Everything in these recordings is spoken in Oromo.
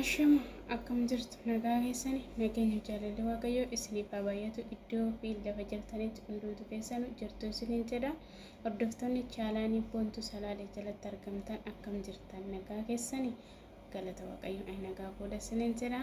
Ashama akkam jirtu nagaa keessani nageenyi jaalalli waaqayyoo isiniif haa baay'atu iddoo fi lafa jirtanitti hundumtu keessanu jirtu isiniin jedha hordoftoonni chaalaanii boontu salaalee jalatti argamtan akkam jirtan nagaa keessani galata waaqayyoo ani nagaa fuudha isiniin jedha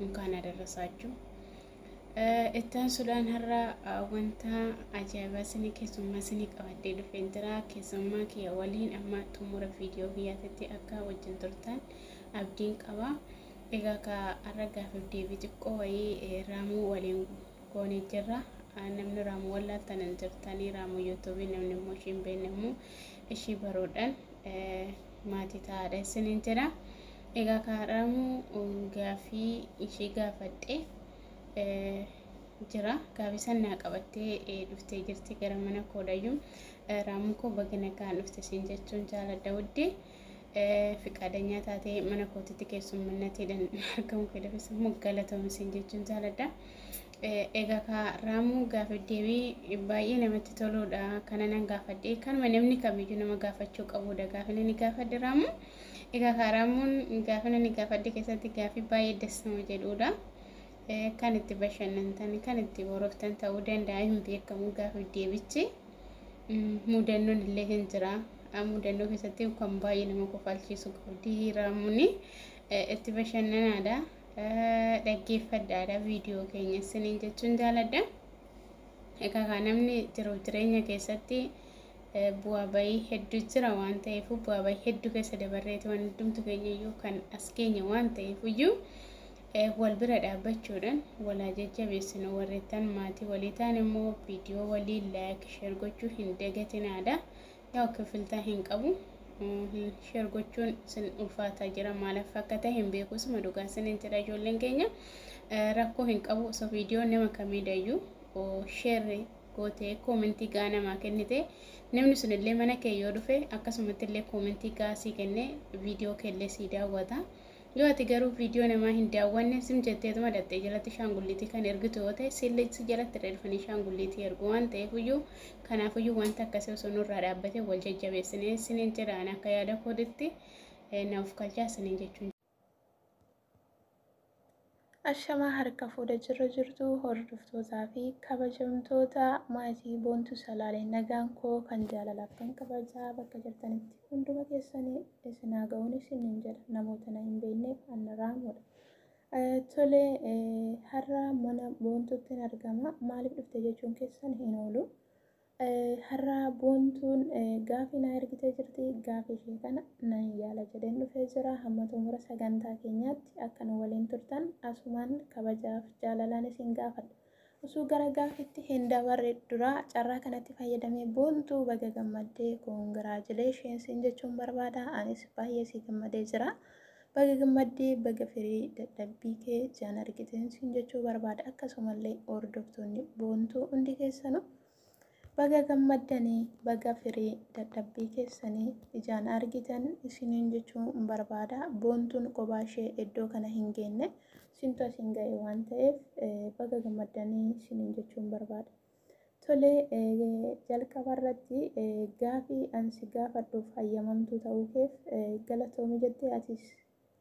unkaan adarrasaachuu. Ittaan sudhaan har'a wanta ajaa'ibaa isinii keessummaa isinii qabadhee dhufeen jira. Keessummaa kiyya waliin amma xumura viidiyoo kiyyaatitti akka wajjin turtan abdiin qaba. Egaa ka har'a gaafiif deebii xiqqoo wayii raamuu waliin goonee jirra. Namni raamuu wallaaltanan jirtanii raamuu yuutuubii namni immoo ishii hin beekne immoo ishii baruudhaan maatii taa'aadha isiniin jedha. Egaa ka har'aammoo gaaffii ishee gaafadhe jira. Gaaffii san naa qabattee dhuftee jirti gara mana koo dhayyuu. Raamuu koo baga nagaan dhufte siin jechuun jaaladha wudde. Fiqaadanyaa taatee mana kootitti keessummannateedhan argamu keedafis immoo galatoomi siin jechuun jaaladha. Egaa ka raamuu gaaffii deebii baay'ee namatti toluudha. Kana nan gaafadhe. Kanuma namni kamiyyuu nama gaafachuu qabuudha. Gaaffiin inni gaafadhe raamuu. Egaa Kaaraamoon gaafin ani gaafadhe keessatti gaafii baay'ee das nama jedhuudha. Kan itti bashannantan, kan itti boroftan ta'uu danda'a hin beekamu gaafiif deebichi. Mudannoon illee hin jira. Mudannoo keessatti kan baay'ee nama kofalchiisu qabdi Raamuuni. Itti bashannanaadha. Dhaggeeffadhaadha viidiyoo keenya isiniin jechuun jaaladha. Egaa kaa namni jiruuf jireenya keessatti bu'aa ba'ii heddu jira waan ta'eefuu bu'aa ba'ii heddu keessa dabarreeti waan hundumtu keenyayyuu kan as geenye waan ta'eefuyyuu wal bira dhaabbachuudhaan walaa jajjabeessinu warreettan maatii walii ta'an immoo viidiyoo walii laayik sheer gochuu hin dagatinaadha yaa kifiltaa hin qabu sheer gochuun sin ulfaataa jira maalaaf akka ta'e hin beeku suma dhugaa sinin jedha ijoolleen keenya rakkoo hin qabu osoo viidiyoo nama kamiidayyuu sheerri gootee koomentii gaa namaa kennite namni sun illee mana kee yoo dhufe akkasumatti illee koomentii gaa sii kenne viidiyoo kee illee sii daawwata yoo ati garuu viidiyoo namaa hin daawwanne sim jetteetuma dhaxxee jalatti shaangulliitii kan ergitu yoo ta'e siillee si jalatti irra dhufanii shaangulliitii ergu waan ta'eefuyyuu kanaafuyyuu wanta akkasii osoo nurraa dhaabbatee wal jajjabeessinee siniin jedhaan akka yaada kooditti naaf kalchaa siniin jechuun Ashamaa harka fuudha jirra jirtu hordoftootaa fi kabajamtoota maatii boontu salaalee nagaan koo kan jaalalaaf kan kabajaa bakka jirtanitti hunduma keessanii isin haa ga'uun isiniin jedha namoota na hin beekneef annaraamuudha. Tole har'a mana boontuutti argama maaliif dhufte jechuun keessan hin oolu. Har'a Boontuun gaafii naa ergitee jirti. Gaafii ishee kana nan yaala jedheen dhufee jira. Hamma xumura sagantaa keenyaatti akka nu waliin turtan asumaan kabajaaf jaalalaan isin gaafadha. Osoo gara gaafiitti hin dabarre dura carraa kanatti fayyadamee Boontuu baga gammaddee congratulations siin jechuun barbaada. Anis baay'ee sii gammadee jira. Baga gammadde baga firii dadhabbii kee jaan argiteen siin jechuu barbaada akkasumallee hordoftoonni boontuu hundi keessanuu baga gammaddanii baga firii dadhabbii keessanii ijaan argitan isiniin jechuu barbaada boontuun kophaa ishee iddoo kana hin geenne siintu asiin ga'e waan ta'eef baga gammaddanii isiniin jechuun barbaada. Tole, jalqaba irratti gaafii an si gaafadhuuf hayyamamtuu ta'uu keef galatoomi jettee atis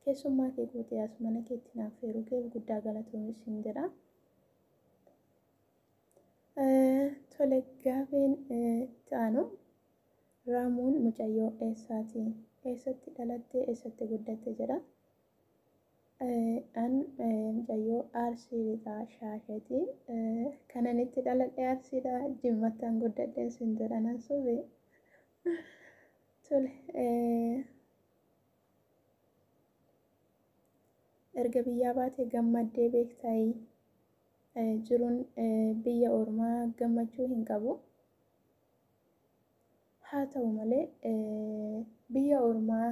keessummaa kee gootee as mana keetti na affeeruu keef guddaa galatoomi siin jedha. Tole, gaafiin itti aanu Raamuun mucayyoo eessaati? Eessatti dhalatte? Eessatti guddatte? jedha. An mucayyoo Arsii lixaa shaasheti. Kanan itti dhaladhe Arsiidha. Jimmattan guddadhen sin jedha nan sobe. Tole erga biyyaa baate gammaddee beektayi. Jiruun biyya ormaa gammachuu hin qabu. Haa ta'u malee, biyya ormaa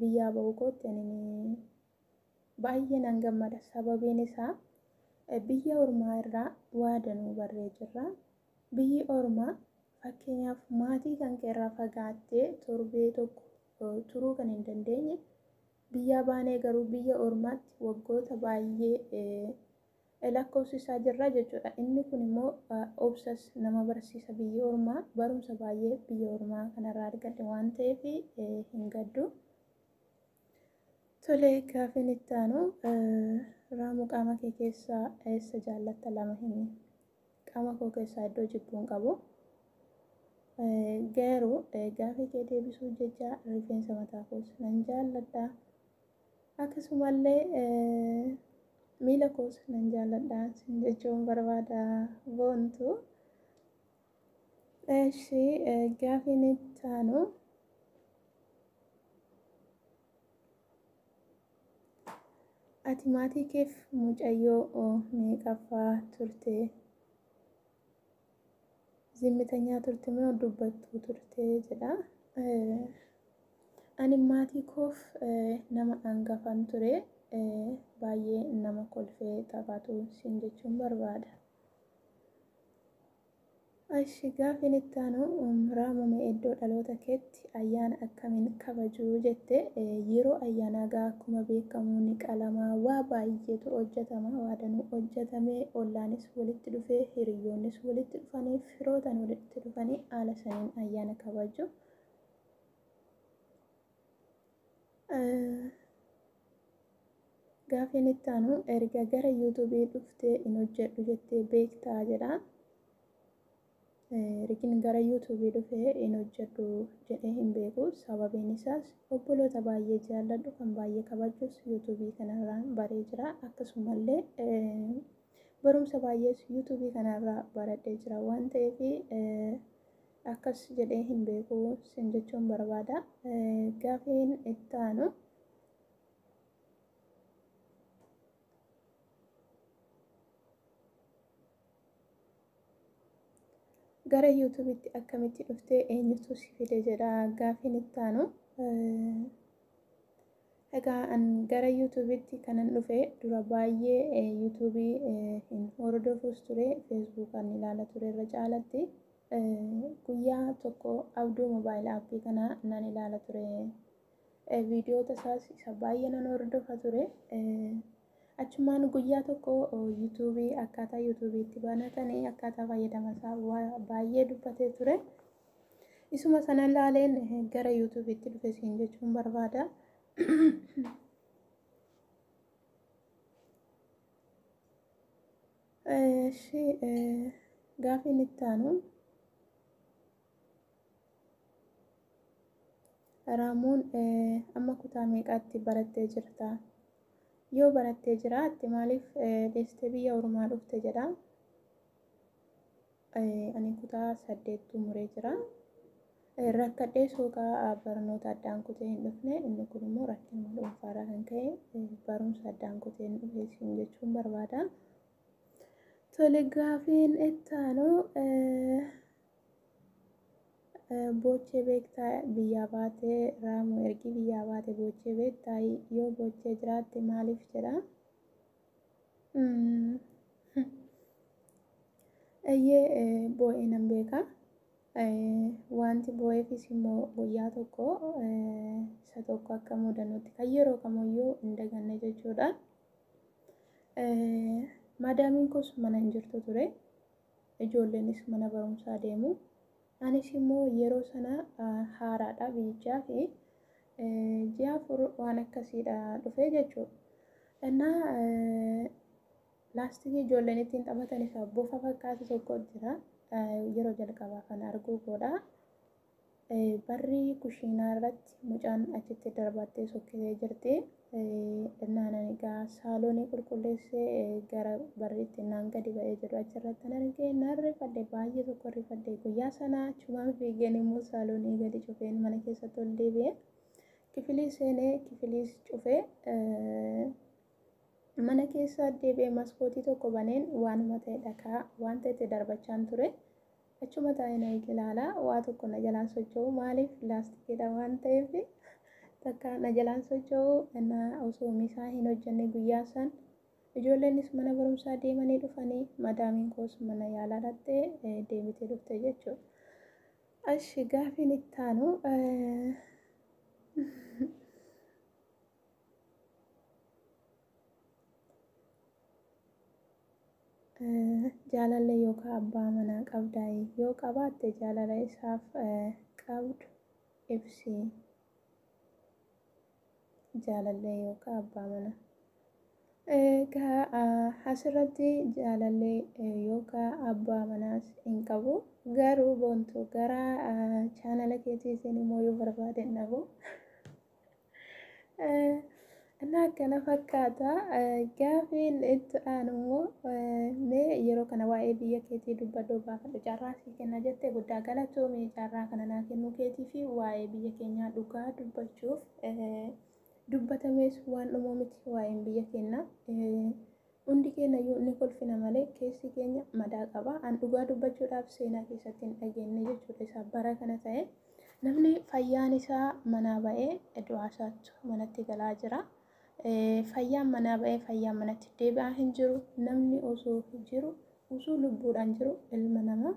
biyyaa ba'uu kootti ani baay'ee nan gammada. Sababiin isaa biyya ormaa irraa waa danuu barree jirra. Biyyi ormaa fakkeenyaaf maatii kan kee irraa fagaattee torbee tokko turuu kan hin dandeenye biyyaa baanee garuu biyya ormaatti waggoota baay'ee lakkoofsisaa jirra jechuudha. Inni kun immoo obsas nama barsiisa biyya ormaa barumsa baay'ee biyya ormaa kanarraa argadhe waan ta'eef hin gaddu. Tole gaafiin itti aanu raamuu qaama kee keessaa eessa jaallatta lama himi. Qaama koo keessaa iddoo jibbuu hin qabu. Garuu gaafii kee deebisuuf jecha rifeensa mataa koos nan jaalladha. Akkasumallee miila koos nan jaalladha sin jechuun barbaada boontu. Eshi gaafiin itti aanu. Ati maatii keef mucayyoo meeqaffaa turte? zimmitanyaa turte moo dubbattuu turte jedha. Ani maatii koof nama angafan ture baay'ee nama kolfee taphatu siin jechuun barbaada. Ashi gaafiin itti aanu raamame iddoo dhaloota keetti Ati ayyaana akkamiin kabaju jette yeroo ayyaanaa gaa akkuma beekamu ni qalama waa baay'eetu hojjetama waa danuu hojjetamee ollaanis walitti dhufee hiriyyoonnis walitti dhufanii firootan walitti dhufanii haala saniin ayyaana kabaju. Gaafiin itti aanu erga gara yuutuubii dhuftee hin hojjedhu jettee beektaa jedha. Rikin gara YouTube dhufee hin hojjedhu jedhee hin beeku. Sababiin isaas obboloota baay'ee jaalladhu kan baay'ee kabajus YouTube kanarraa baree jira. Akkasumallee barumsa baay'ees YouTube kanarraa baradhee jira waan ta'eef akkas jedhee hin beeku sin jechuun barbaada. Gaafiin itti aanu Gara yuutuubitti akkamitti dhufte eenyutu si fide jedha gaafiin itti aanu. Egaa an gara yuutuubitti kanan dhufe dura baay'ee yuutuubii hin hordofuus ture feesbuukaan ilaala ture irra caalatti guyyaa tokko abduu moobaayil aappii kana nan ilaala ture viidiyoota isaas isa baay'ee nan hordofa ture. Achumaan guyyaa tokko yuutuubii akkaataa yuutuubii itti banatanii akkaataa fayyadama isaa baay'ee dubbatee ture. Isuma sana ilaaleen gara yuutuubiitti dhufe siin jechuun barbaada. Gaafiin itti aanu. Raamuun amma kutaa meeqaatti barattee jirta? Yoo barattee jiraatte maaliif deessitee biyya ormaa dhufte jedha. Ani kutaa saddeet xumuree jira. Rakkadhee soogaa barnoota addaan kutee hin dhufne inni kun immoo rakkina dhuunfaarraa kan ka'e barumsa addaan kutee hin dhufe siin jechuun barbaada. Tole gaafiin itti aanu Boochee beektaa biyyaa baate raamu ergii biyyaa baate boochee beektaa yoo boochee jiraatte maaliif jedha. Eeyyee boo'ee nan beeka. Wanti boo'eefis immoo guyyaa tokko isa tokko akka mudannutti kan yeroo kamiyyuu hin daganne jechuudha. Maadaamiin koos mana hin jirtu ture. Ijoolleenis mana barumsaa deemu. Anis immoo yeroo sana haaraadha biyyichaaf. Ji'a afur waan akkasiidha dhufee jechuudha. Innaa laastikii ijoolleen ittiin taphatan isa bofa fakkaatu tokko jira. Yeroo jalqabaa kan arguu koodha. Barri kushiinaa irratti mucaan achitti darbaattee sokkitee jirti. Innaan ani egaa saaloonii qulqulleessee gara barriitti innaan gadi ba'ee jedhu achirratti nan argee nan rifadhe baay'ee tokko rifadhe guyyaa sana achumaan fiigeen immoo saaloonii gadi cufeen mana keessatti ol deebi'ee kifilii seenee kifiliis cufee mana keessa deebi'ee maskootii tokko baneen waanuma ta'e dhakaa wanta itti darbachaan ture. Achuma taa'ee na eege ilaala. Waa tokko na jalaan socho'u maaliif laastikiidha waan ta'eef takka na jalaan socho'u na osoo misaa hin hojjenne guyyaa san ijoolleenis mana barumsaa deemanii dhufanii madaamiin koos mana yaalaa dhaqxee deebitee dhufte jechuudha. Ashi gaafiin itti aanu Jaalallee yookaan abbaa manaa qabdaa? Yoo qabaatte jaalala isaaf qabdu ibsi. Jaalallee yookaan abbaa manaa. Egaa asirratti jaalallee yookaan abbaa manaas hin qabu. Garuu boontu gara chaanala keetiitiin immoo yoo barbaade hin dhabu. Innaa kana fakkaata gaafiin itti aanu immoo mee yeroo kana waa'ee biyya keetii dubbadhoo gaafadhu carraa sii kenna jette guddaa galatoomii carraa kana naa kennuu keetii fi waa'ee biyya keenyaa dhugaa dubbachuuf dubbatamees waan dhumoo miti waa'een biyya keenyaa. Hundi keenyayyuu ni kolfina malee keessi keenya madaa qaba. An dhugaa dubbachuudhaaf seenaa keessatti hin dhageenne jechuudha isaa bara kana ta'e. Namni fayyaan isaa manaa ba'ee du'aa isaatu manatti galaa jira. Fayyaan manaa ba'ee fayyaan manatti deebi'aa hin jiru. Namni osoo jiru osoo lubbuudhaan jiru ilma namaa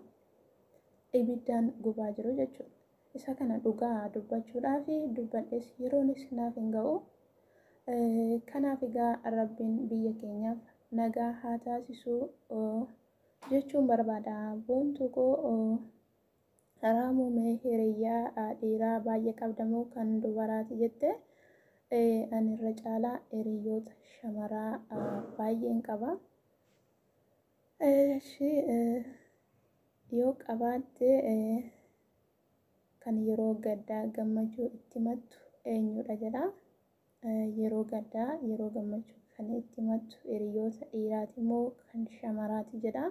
ibiddaan gubaa jiru jechuudha. Isa kana dhugaa dubbachuudhaaf dubbadhes yeroonis naaf hin ga'u. Kanaaf egaa Rabbiin biyya keenyaaf nagaa haa taasisu jechuun barbaada. Boontuu koo Raamuu mee hiriyyaa dhiiraa baay'ee qabda moo kan dubaraati jette ani irra caalaa hiriyoota shamaraa baay'een qaba. Eshi yoo qabaatte kan yeroo gaddaa gammachuu itti himattu eenyudha jedha. Yeroo gaddaa yeroo gammachuu kan itti himattu hiriyoota dhiiraati moo kan shamaraati jedha.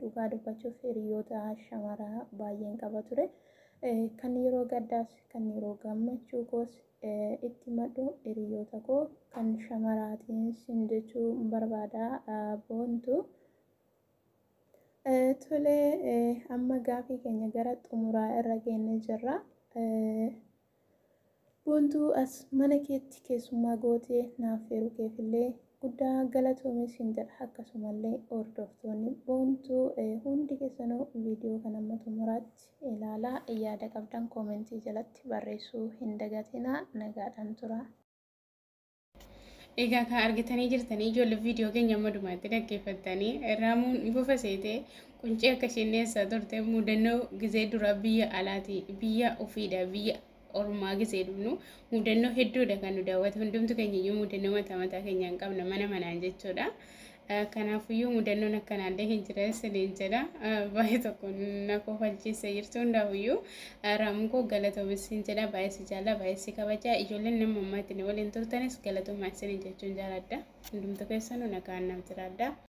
Dhugaa dubbachuuf hiriyoota shamaraa baay'een qaba ture. Kan yeroo gaddaas kan yeroo gammachuu koos Itti himadhu hiriyoota koo kan shamaraatiin sin jechuu barbaada boontu. Tole amma gaafii keenya gara xumuraa irra geenne jirra. Boontuu as mana keetti keessummaa gootee naaf feeruu keefillee guddaa galatoomi siin jedha akkasumallee hordoftoonni boontuu hundi keessanuu viidiyoo kan amma xumuraatti ilaalaa yaada qabdan koomentii jalatti barreessuu hin dagatinaa nagaadhaan turaa. Egaa kan argitanii jirtanii ijoollee viidiyoo keenya amma dhumaatti dhaggeeffattanii raamuun bufa seetee quncee akka isheen dhiyeessaa turte mudannoo gizee duraa biyya alaati biyya ofiidha biyya ormaa gisee dhufnu mudannoo hedduudha kan nu daawwatu hundumtu keenya iyyuu mudannoo mataa mataa keenyaan qabna mana manaan jechuudha. Kanaafiyyuu mudannoon akkanaallee hin jira isiniin jedha baay'ee tokko na kofalchiise jirtu hundaafiyyuu raamukoo galatoomi isin jedha baay'ee si jaalla baay'ee si kabaja ijoolleen nama ammaatti na waliin turtanis galatoomaa isiniin jechuun jaaladha hundumtu keessanuu nagaan naaf jiraadha.